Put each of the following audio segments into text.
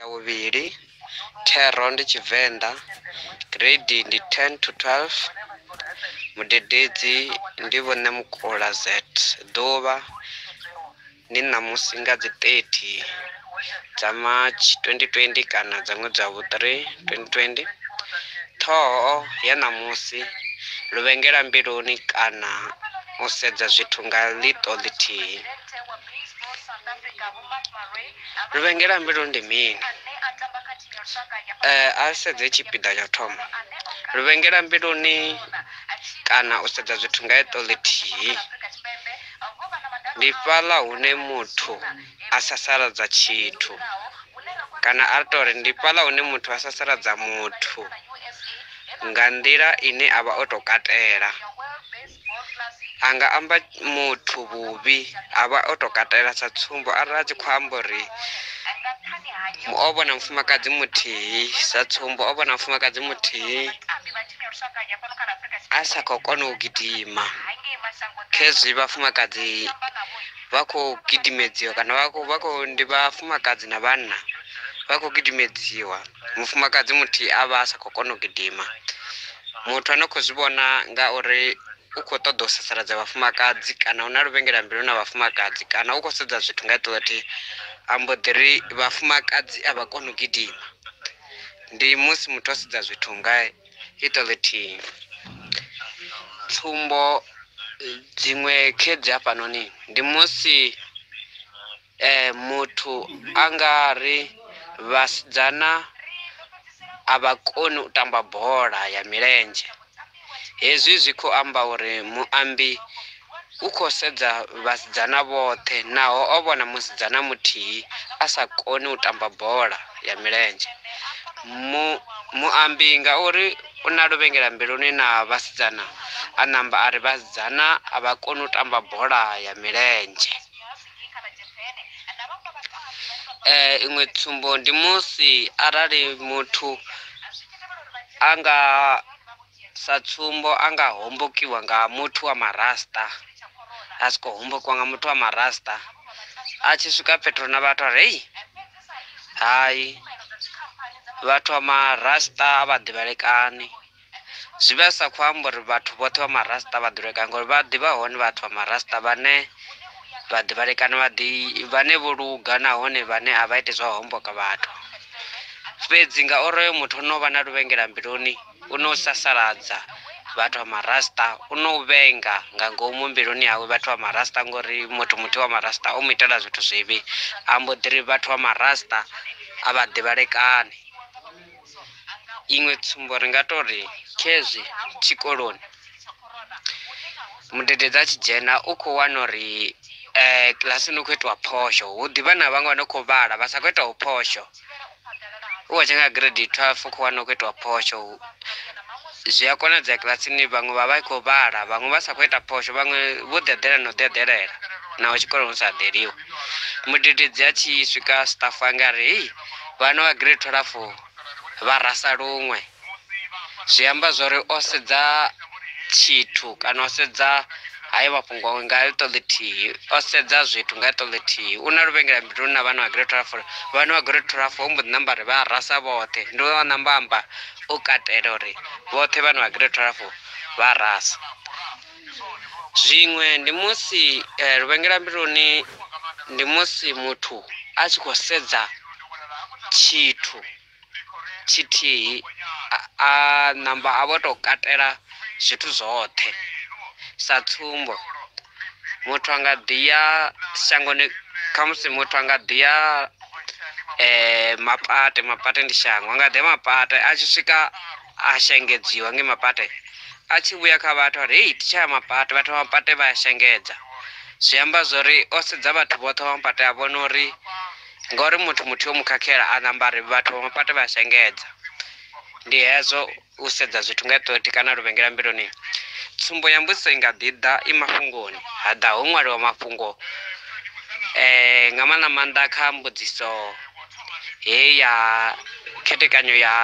ya vhuvhili thero ndi tshivenḓa grade ndi 10 to 12 mudededzi ndi vhone mukula z ḓuvha ndi ṋamusi nga dzi 30 dza march 2020 kana dza ṅwedzi wa vhu-3 2020 ṱhoho ya ṋamusi luvhengela mbiluni kana u sedza zwithu nga ḽiṱo ḽithihi Luvhengela mbilu ndi mini? Eh, a sedze tshipiḓa tsha thoma luvhengela mbiluni kana u sedza zwithu nga eṱo ḽithihi ndi fhaḽa hune muthu a sasaladza tshithu kana a tou ri ndi fhaḽa hune muthu a sasaladza muthu nga nḓila ine a vha o tou katela a nga amba muthu vhuvhi a vha o tou katela sa tsumbo arali a tshi khou amba uri o vhona mufumakadzi muthihi sa tsumbo o vhona mufumakadzi muthihi a sa khou kona u gidima khezwi vhafumakadzi vha khou gidimedziwa kana vha khou vha khou ndi vhafumakadzi na vhanna vha khou gidimedziwa mufumakadzi muthihi a vha a sa khou kona u gidima muthu ane khou zwi vhona nga uri u khou ṱoḓa u sasaladza vhafumakadzi kana u na luvhengela mbilu na vhafumakadzi kana u khou sedza zwithu nga iṱo ḽathihi a mbo ḓi ri vhafumakadzi a vha koni u gidima ndi musi muthu o sedza zwithu nga iṱo ḽithihi tsumbo dziṅwe khed hafhanoni ndi musi Eh, muthu a nga ri vhasidzana a vha koni u tamba bola ya milenzhe. Hezwi zwi khou amba uri muambi u khou sedza vhasidzana vhoṱhe naho o vhona musidzana muthihi a sa koni u tamba bola ya milenzhe. Mu, muambi ngauri u na luvhengela mbiluni na vhasidzana, a namba a ri vhasidzana a vha koni u tamba bola ya milenzhe. Eh, iṅwe tsumbo ndi musi arali muthu a nga sa tsumbo a nga hombokiwa nga muthu wa marasta a si khou hombokiwa nga muthu wa marasta a tshi swika fhethu na vhathu a ri hei hai vhathu wa marasta a vha ḓivhalekani Zwi vha zwi sa khou amba uri vhathu vhoṱhe vha marasta vha ḓulekana ngori vha ḓivha hone vhathu vha marasta vhane vha ḓivhalekana vha ḓi vhane vho luga nahone vhane a vha ite zwa homboka vhathu fhedzi ngauri oyo muthu o no vha na luvhengela mbiluni u no sasaladza vhathu vha marasta u no vhenga nga ngomu mbiluni yawe vhathu vha marasta ngori muthu muthu wa marasta o mu itela zwithu zwivhi ambo ḓiri vhathu vha marasta a vha ḓivhalekani iṅwe tsumbo ri nga tou ri khezwi tshikoloni mudededzi a tshi dzhena u khou wana uri um kilasini u khou itiwa phosho hu ḓivha na vhaṅwe vha no khou vhala vha sa khou itaho phosho u wa tshenga grade twelve u khou wana u khou itiwa phosho zwi a konadzea kilasini vhaṅwe vha vha i khou vhala vhaṅwe vha sa khou ita phosho vhaṅwe vho ḓi eḓela na u ḓi eḓelela naho tshikoloni hu sa eḓeliwi mudededzi a tshi swika staff anga ri hei vhane vha grade 12 vha rasa luṅwe zwi amba zwori o sedza tshithu kana o sedza hayi mafhungo nga iṱo ḽithihi o sedza zwithu nga iṱo ḽithihi u na luvhengela mbiluni na vhana vha grade 12 vhana vha grade 12 ho mbo ḓi namba ri vha rasa vhoṱhe ndi wa namba amba u katela uri vhoṱhe vhana vha grade 12 vha rasa zwiṅwe ndi musi eh, luvhengela mbiluni ndi musi muthu a tshi khou sedza tshithu tshithihi a- a namba a vho tou katela zwithu zwoṱhe sa tsumbo muthu a nga ḓi ya shangoni khamusi muthu a nga ḓi ya eh, mapate mapate ndi shango a nga ḓi ya mapate a tshi swika a shengedziwa nge mapate a tshi vhuya kha vhathu ari hei titshaya mapate vhathu vha mapate vha a shengedza zwi amba zwori o sedza vhathu vhoṱhe vha mapate a vhona uri ngori muthu muthu yo mu khakhela a namba ari vhathu vha mapate vha a shengedza ndi hezwo u sedza zwithu nga ṱothi kana luvhengela mbiloni tsumbo ya mbudziso i nga ḓi ḓa i mafhungoni ha ḓa ho ṅwaliwa mafhungo eh nga maanḓa maanḓa kha mbudziso he ya khethekanyo ya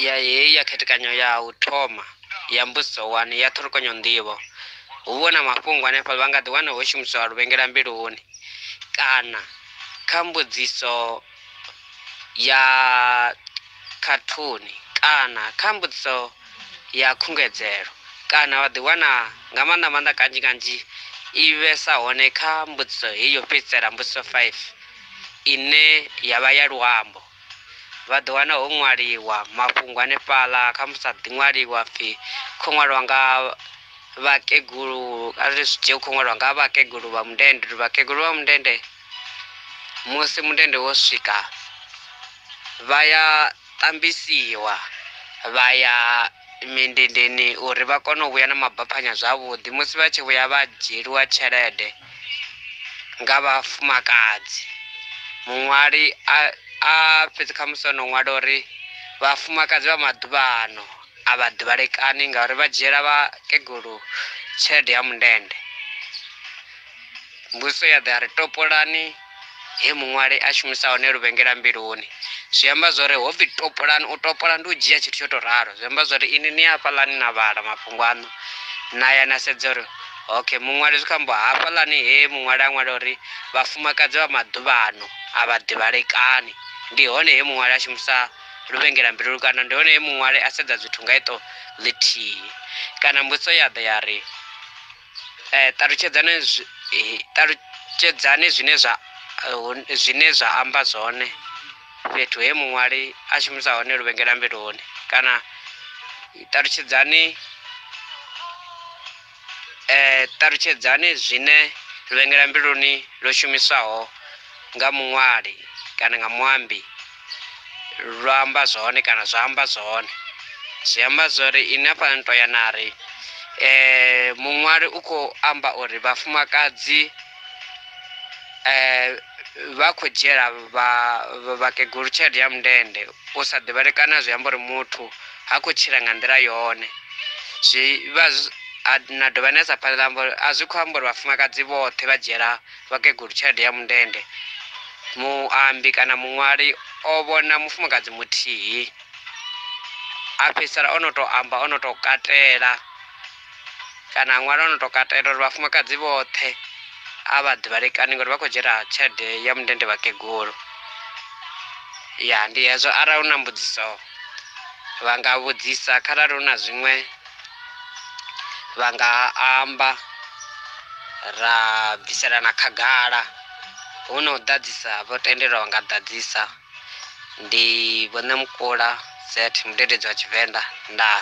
ya heyi ya khethekanyo ya u thoma ya mbudziso wani ya ṱhulukanyo nḓivho hu vho na mafhungo hanefha vha nga ḓi wana ho shumiswa luvhengela mbiluni kana kha mbudziso ya khathuni kana kha mbudziso ya khungedzelo kana vha ḓi wana nga maanḓa maanḓa kanzhi kanzhi i vhesa hone kha mbudziso heyi yo fhedzisela mbudziso five ine ya vha ya luambo vha ḓo wana ho ṅwaliwa mafhungo hanefhaḽa kha musi a ḓi ṅwaliwa pfhi khou ṅwaliwa nga vhakegulu a ri zwi dzhie khou ṅwaliwa nga vhakegulu vha mundende uri vhakegulu vha mundende musi mundende wo swika vha ya tambisiwa vha ya mindendeni uri vha kone u vhuya na mabaphanya zwavhuḓi musi vha tshi vhuya vha dzhieliwa tshelede nga vhafumakadzi muṅwali a a fhedzi kha musi ono ṅwala uri vhafumakadzi vha maḓuvha ano a vha ḓivhalekani ngauri vha dzhiela vha kegulu tshelede ya mundende mbudziso ya ḓa ya ri topolani he muṅwali a shumisa hone luvhengela mbiluni zwi amba zwori ho pfhi topolani u topola ndi u dzhia tshithu tsho tou ralo zwi amba zwori ini ni hafhaḽani na vhala mafhungo aṋu na ya na sedza uri okay muṅwali zwi kho amba hafhaḽani he muṅwali a ṅwala uri vhafumakadzi vha maḓuvhano a vha ḓivhalekani ndi hone he muṅwali a shumisa luvhengela mbilulu kana ndi hone he muṅwali a sedza zwithu nga iṱo ḽithihi kana mbudziso ya ḓa ya ri eh, ṱalutshedzani eh, ṱalutshedzani zwine zwa eh, zwine zwa amba zwone fhethu he muṅwali a shumisa hone luvhengela mbiluni kana ṱalutshedzani eh, ṱalutshedzani zwine luvhengela mbiluni lwo shumiswaho nga muṅwali kana nga muambi lwa amba zwone kana zwa amba zwone zwi amba zwori ine hafhaḽani to ya nari um eh, muṅwali u khou amba uri vhafumakadzi um vha khou dzhiela vhakegulu tshelede ya mundende u sa ḓivhalekana zwi amba uri muthu ha khou tshila nga nḓila yone zwi vha na dovha na sa phanḓa amba uri a zwi khou amba uri vhafumakadzi vhoṱhe vha dzhiela vhakegulu tshelede ya mundende, muambi kana muṅwali o vhona mufumakadzi muthihi a fhedzisela o no tou amba o no tou katela kana a ṅwala o no tou katela uri vhafumakadzi vhoṱhe a vha ḓivhalekani ngori vha khou dzhiela tshelede ya mundende vhakegulu. Ya ndi hezwo arali hu na mbudziso vha nga vhudzisa kharali hu na zwiṅwe. vha nga amba ra bviselana khagala hu na u ḓadzisa vho tendelwa vha nga ḓadzisa ndi vhone mukula zet mudededzi wa tshivenḓa ndaa